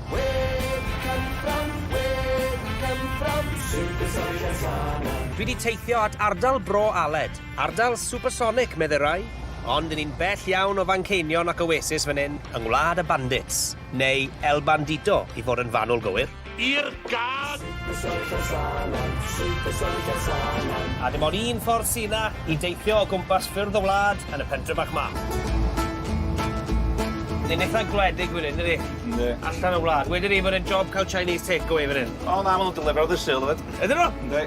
Where we come from, where we come from, Supersonic and Sana. Dwi wedi teithio at ardal Bro Aled, ardal supersonic, medde rai, ond yn un bell iawn o Fanceinion ac Oasis fan hyn, yng Ngwlad y Bandits, neu El Bandito i fod yn fanwl gywir. I'r Gad! A dim ond un ffordd sy 'na i deithio o gwmpas ffyrdd y wlad yn y pentre bach 'ma. Ni'n eitha gwledig fan 'yn dydi? Yndi. Allan o'r wlad. Wedwn i bod e'n job ca'l Chinese takeaway fan 'yn. O na ma' nw'n delifero ddydd Sul efyd. Ydyn nw? Yndi.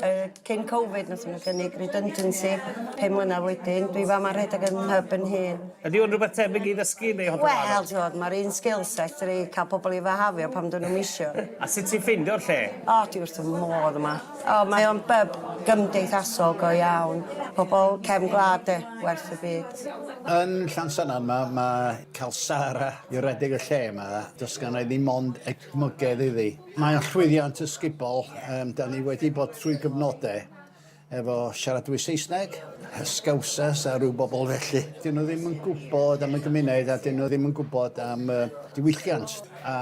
Yy cyn Covid nathon n'w gynnig redundancy pum mlynadd wedyn dwi fama rhedag 'yn nyb 'yn hun. Ydi o'n rwbeth tebyg i ddysgu neu hollol wahanol? Wel t'wod ma'r un skill set fedri ca'l pobol i fihafio pan 'dyn nw'm isio. A sut ti'n ffeindio'r lle? O dwi wrth 'ym modd yma. O mae o'n bub gymdeithasol go iawn. Pobol cefn gwlad 'de? Werth y byd. Yn Llansannan ma' ma' ca'l Sara i redeg y lle 'ma do's gynna i ddim ond edmygedd iddi. Mae'n llwyddiant ysgubol. Um, da ni wedi bod trwy gyfnodau efo siaradwy Saesneg, Scousers a rhyw bobl felly. Dyn nhw ddim yn gwybod am y gymuned a dyn nhw ddim yn gwybod am uh, diwylliant. A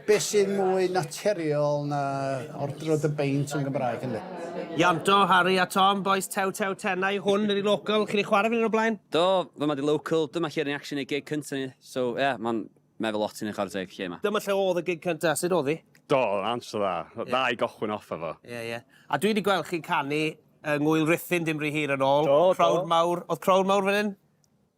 beth sydd mwy naturiol na ordro dy beint yn Gymraeg ynddo? Ianto, Harry a Tom, boys tew tew tenau, hwn ydi local, chi wedi chwarae fan hyn o blaen? Do, fy mae di local, dyma chi'r reaction i gig cyntaf ni, so ie, yeah, mae'n Mae fy lot yn ei chwarae teg lle ma. Dyma lle odd y gig cynta, sud odd i? Do, answer dda. Dda i gochwyn off efo. Ie, ie. A dwi di gweld chi'n canu yng Ngwyl Ruthun dim ry hir yn ôl. Do, do. Crowd mawr. Odd crowd mawr fan hyn?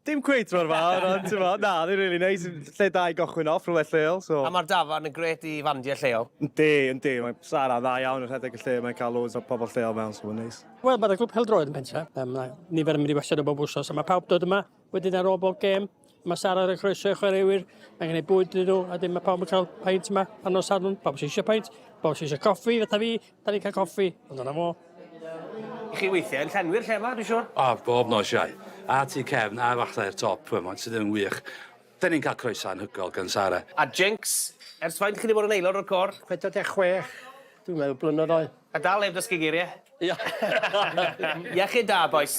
Dim cweit mor fawr, ond t'mo', na, oedd hi'n rili neis. Lle da i gochwyn off, rhywle lleol, so. A ma'r dafarn yn grêt i fandiau lleol. Yndi, yndi. Mae Sara yn dda iawn yn rhedeg y lle, mae'n cael loads o pobl lleol mewn, so mae'n neis. Wel, mae'r Clwb Pêl-droed yn Pentre. Mae nifer yn mynd i wastad o bob wsos, a mae pawb dod yma. Wedyn ar ôl bob gêm, mae Sara ar y croeso i chwaraewyr, mae'n gwneud bwyd iddyn nhw, a dim mae pawb yn cael paint yma pan nos Sadwrn, pawb sy'n eisiau paint, pawb sy'n eisiau coffi, fatha fi, da ni'n cael coffi, ond yna fo. I chi weithiau yn llenwi'r lle yma, dwi'n siŵr? O, bob nos, Iau. A tu cefn, a falle i'r top, mae'n sydd yn wych. Dyn ni'n cael croeso anhygoel gan Sara. A Jinx, ers faint chi 'di bod yn aelod o'r côr? 46, dwi'n meddwl, blynyddoedd oed. A dal heb ddysgu geiriau? Ia. Iechyd da, bois.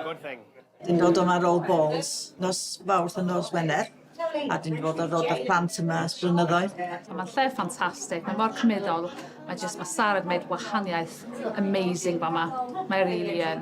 Good thing. Dyn ni'n dod yma ar ôl balls nos Fawrth a nos Wener, a dyn ni'n dod ar ôl 'da'r plant yma ers blynyddoedd. Mae'r lle ffantastig, mae mor cymudol. Mae jyst ma Sara di neud wahaniaeth amazing fama. Mae e rili yn.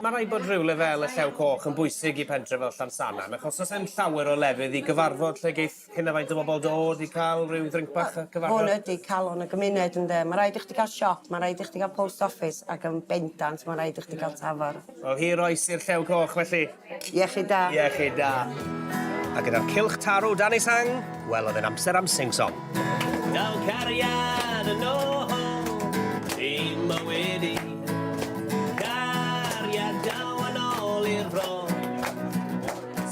Mae rhaid bod rhywle fel y Llew Coch yn bwysig i pentre fel Llansannan, achos os e'n llawer o lefydd i gyfarfod lle geith hyn a faint o bobl dod i cael rhyw ddrinc bach a cyfarfod. Hwn ydi calon y gymuned ynde? Mae rhaid i chdi gael siop, mae rhaid i chdi gael post office ac yn bendant mae rhaid i chdi gael tafarn. Wel hir oes i'r Llew Coch felly. Iechyd da. Iechyd da. A gyda'r cylch tarw dan ei sang, wel oedd e'n amser am sing song. Dal cariad yn ôl i mywyd i. Cariad daw yn ôl i'r bro.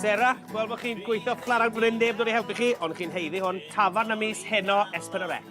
Sarah, gweld bod chi'n gweithio flat out fan hyn, neb dod i helpu chi, ond chi'n haeddu hwn, tafarn ym mis heno, Espen a Rec.